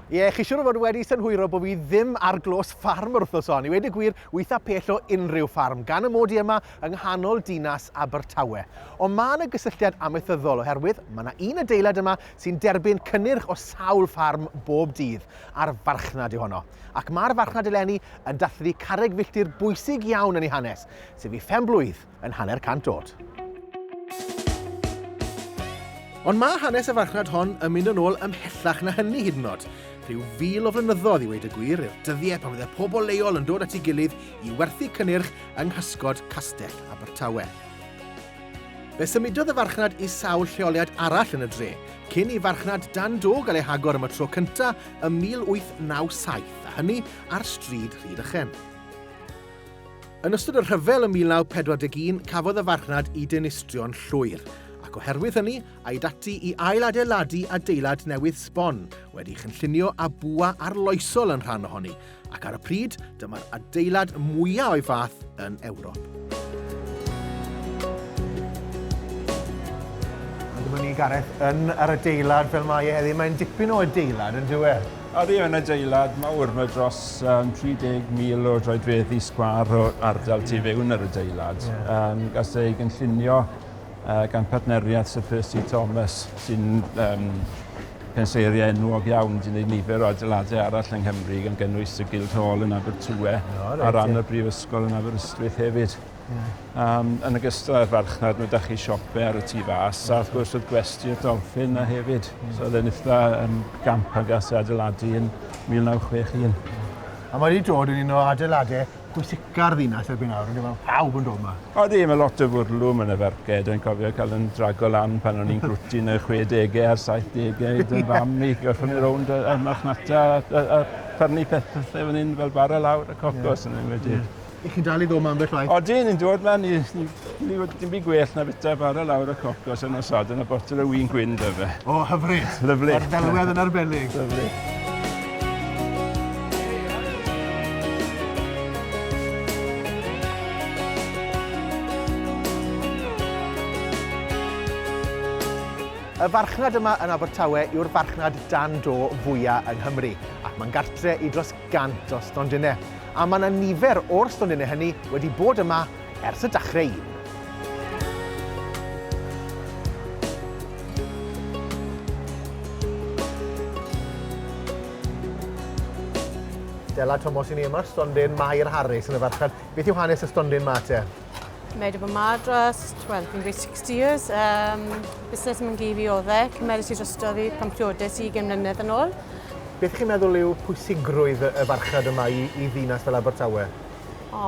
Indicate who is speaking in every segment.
Speaker 1: Ie, chi siwr o fod wedi synhwyro bod fi ddim ar glos ffarm yr wythnos hon. I wedi gwir, weitha pell o unrhyw ffarm, gan y mod i yma yng nghanol dinas Abertawe. Ond mae yna gysylltiad amaethyddol oherwydd mae yna un adeilad yma sy'n derbyn cynnyrch o sawl ffarm bob dydd, a'r farchnad yw honno. Ac mae'r farchnad eleni yn dathlu carreg filltir bwysig iawn yn ei hanes, sef i phen-blwydd. yn hanner cant oed. Ond mae hanes y farchnad hon yn mynd yn ôl ymhellach na hynny hyd yn oed. Rhyw fil o flynyddoedd i weid y gwir, i'r dyddiau pan fydde pobl leol yn dod at ei gilydd i werthu cynnyrch yng nghysgod Castell Abertawe. Fe symudodd y farchnad i sawl lleoliad arall yn y dre, cyn i farchnad dan do gael ei hagor am y tro cyntaf ym 1897, a hynny ar stryd Rhydychen. Yn ystod y rhyfel ym 1941 cafodd y farchnad i dinistrio'n llwyr, ac oherwydd hynny aed ati i ail-adeiladu adeilad newydd sbon, wedi chynllunio a bwa arloesol yn rhan ohoni, ac ar y pryd dyma'r adeilad mwyaf o'i fath yn Ewrop. Dyma ni, Gareth, yn yr adeilad fel mae e heddi. Mae'n dipyn o adeilad, yn dyw e? Oddi yn adeilad
Speaker 2: mawr, mae dros um, 30,000 o droedfeddi sgwar o ardal tu fewn yr adeilad. Yeah. Um, gas ei gynllunio uh, gan partneriaeth Sir Percy Thomas, sy'n um, penseiriau enwog iawn sy'n gwneud nifer o adeiladau arall yng Nghymru, gan gynnwys y Guild Hall yn Abertwe, no, right, ar ran yeah. y Brifysgol yn Aberystwyth hefyd. Yeah. Um, yn ogystal â'r farchnad, mae da chi siope ar y tu fas, a wrth gwrs oedd gwesti y dolffin na hefyd. So oedd e'n eitha um, gamp a gas i adeiladu yn 1961. A mae
Speaker 1: wedi dod yn un o adeiladau pwysica'r ddinas erbyn awr, ond mae pawb yn dod yma. O di, mae lot o
Speaker 2: fwrlwm yn y ferged. Dwi'n cofio cael yn drago lan pan o'n i'n grwti yn y 60au a'r 70au. Dwi'n fam i, gorffwn i rownd y, y marchnata a, a, a pharnu pethau fan hyn fel bara lawr y cocos yn enwedig. Yeah. Ych chi'n dal i ddod ma
Speaker 1: ambell waith? O, dyn ni'n dod ma, ni,
Speaker 2: ni, ni wedi dim byd gwell na bita bara lawr y cocos yn nosod yn y botel o wyn gwyn da fe. O, hyfryd. Lyflu.
Speaker 1: Mae'r ddelwedd yn
Speaker 2: arbennig.
Speaker 1: Lyflu. Y farchnad yma yn Abertawe yw'r farchnad dan do fwyaf yng Nghymru, ac mae'n gartre i dros gant o stondinau. a mae yna nifer o'r stondinau hynny wedi bod yma ers y dachreu un. Stella Tomos i ni yma, stondin Mair Harris yn y farchnad. Beth yw hanes y stondin 'ma te? Maid of a
Speaker 3: Madras, well, been with 60 years. Um, busnes yn gif i oedd e, cymeryd i drosto fi pan priodes i gen mlynedd yn ôl. Beth chi'n meddwl
Speaker 1: yw pwysigrwydd y farchad yma i, i ddinas fel Abertawe? O,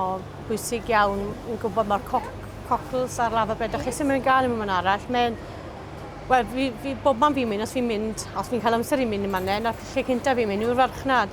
Speaker 3: pwysig iawn yn gwybod mae'r coc, cockles a'r lafau bred, a chi sy'n mynd i gael yma arall. Mae'n Wel, fi, fi, bob man fi'n mynd, os fi'n mynd, os fi'n cael amser i mynd i mannen, a'r lle cyntaf fi'n mynd yw'r farchnad.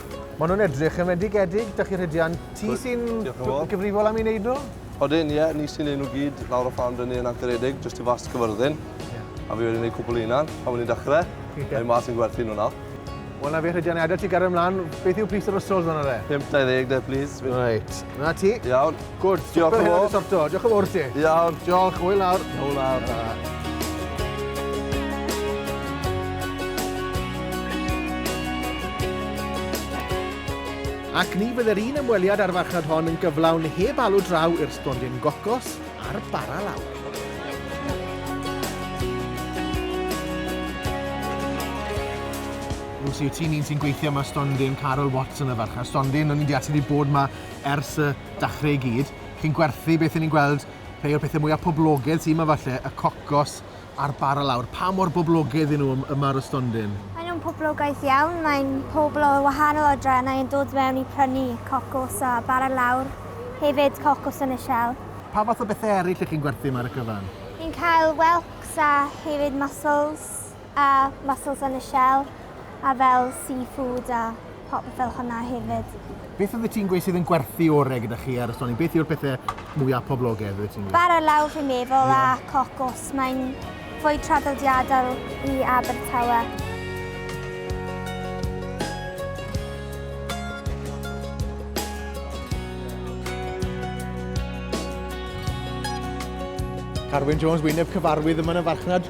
Speaker 1: Maen nhw'n edrych yn fendigedig, dych chi Rhydian. Ti sy'n gyfrifol am ei wneud nhw? Odyn, ie, ni sy'n
Speaker 4: neud nhw gyd lawr o ffarm drynu yn Ancaredig, jyst tu fas i Gyfyrddin. A fi wedi neud cwpl o hunan, pan o'n i'n dechre. Mae mas yn gwerthu nhw nawr. Wel, na fe Rhydian,
Speaker 1: na i adael ti gario mlan. Beth yw pris y Russells fan'na de? 5.20 de, plis.
Speaker 4: Reit, 'na ti.
Speaker 1: Iawn. Good, diolch
Speaker 4: yn fawr.
Speaker 1: Stop
Speaker 4: Diolch yn fawr ti.
Speaker 1: Iawn, diolch. Hwyl
Speaker 4: nawr.
Speaker 1: Hwyl nawr. Ac ni fydd yr un ymweliad â'r farchnad hon yn gyflawn heb alw draw i'r stondin gocos a'r bara lawr. Lucy, wyt ti'n un sy'n gweithio yma stondin Carol Watts yn y farchnad stondin, o'n i'n deall sydd wedi bod yma Ers y dachrau i gyd, chi'n gwerthu beth 'y ni'n gweld, rhei o'r pethau mwyaf poblogedd sy' 'ma falle, y cocos a'r bara lawr. Pa mor boblogedd y'n nhw yma ar y stondin? Maen nhw'n poblogaidd
Speaker 5: iawn, mae pobl o wahanol adrannau yn dod mewn i prynu cocos a bara lawr, hefyd cocos yn y shell. Pa fath o bethau
Speaker 1: eraill 'y chi'n gwerthu yma ar y cyfan? Ni'n cael
Speaker 5: whelks a hefyd mussels. A mussels yn y shell a fel sea food a popeth fel hwnna hefyd. Beth oeddet ti'n gweud
Speaker 1: sydd yn gwerthu orau gyda chi ar y stondin? Beth yw'r pethau mwyaf poblogaidd oeddet ti'n gweud? Bara law fi'n meddwl
Speaker 5: yeah. a cocos. Mae'n fwy traddodiadol i Abertawe.
Speaker 1: Carwyn Jones, wyneb cyfarwydd yma yn y farchnad.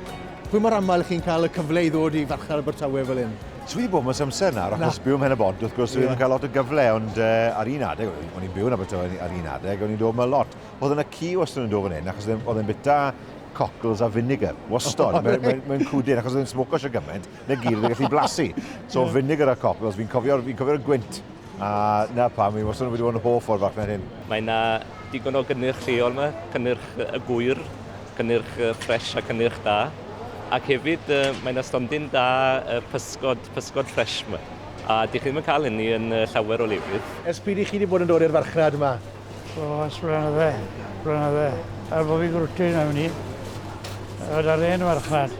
Speaker 1: Pwy mor aml chi'n cael y cyfle i ddod i farchnad Abertawe fel hyn? Dwi wedi bod mas amser
Speaker 6: nawr, achos byw ym Mhen y Bont, wrth gwrs, dwi ddim yn cael lot o gyfle, ond uh, ar un adeg, o'n i'n byw yn Abertawe ar un adeg, o'n i'n dod yma lot. Oedd yna ci wastad yn dod fan hyn, achos oedd e'n bita cockles a vinegar, wastad, mae'n mae, mae cwdyn, achos oedd e'n smoco sio gymaint, na gyd oedd e'n gallu blasu. So vinegar a cockles, fi'n cofio'r fi cofio gwynt A na pam, mi wastad wedi bod yn hoff o'r farchnad hyn. Mae yna digon
Speaker 7: o gynnyrch lleol yma, cynnyrch y gŵyr, cynnyrch ffres a cynnyrch da. Ac hefyd mae yna stondin da pysgod, pysgod ffres yma. A dych chi ddim yn cael hynny yn llawer o lefydd. Ers pryd i chi wedi bod yn
Speaker 1: dod i'r farchnad yma? O, sbran
Speaker 8: o dde, sbran o dde. Ar bob i gwrtyn am ni. Oedd ar un farchnad.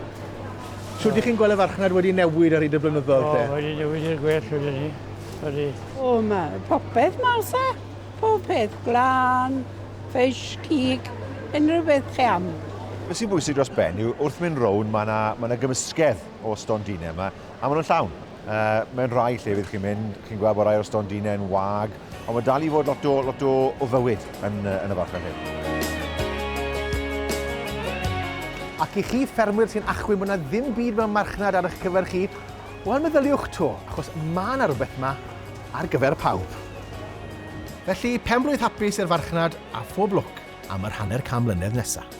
Speaker 8: Shwt
Speaker 1: ych chi'n gweld y farchnad wedi newid ar hyd y blynyddoedd O, te? wedi newid i'r
Speaker 8: gwell wedi ni. Wedi. O,
Speaker 9: mae popeth mas e. Pob peth, glân, fish, cig, unrhyw beth chi am. Be sy'n bwysig dros
Speaker 6: ben yw wrth mynd rownd mae 'na mae 'na gymysgedd o stondinau yma a maen nhw'n llawn. Yy mewn rhai llefydd chi'n mynd chi'n gweld bod rhai o'r stondinau'n wag, Ond mae dal i fod lot o, lot o, o fywyd yn, yn y farchnad hyn.
Speaker 1: Ac i chi ffermwyr sy'n achwyn bod yna ddim byd mewn marchnad ar eich cyfer chi, wel meddyliwch to, achos mae yna rhywbeth yma ar gyfer pawb. Felly, penblwydd hapus i'r farchnad a phob lwc am yr hanner cam mlynedd nesaf.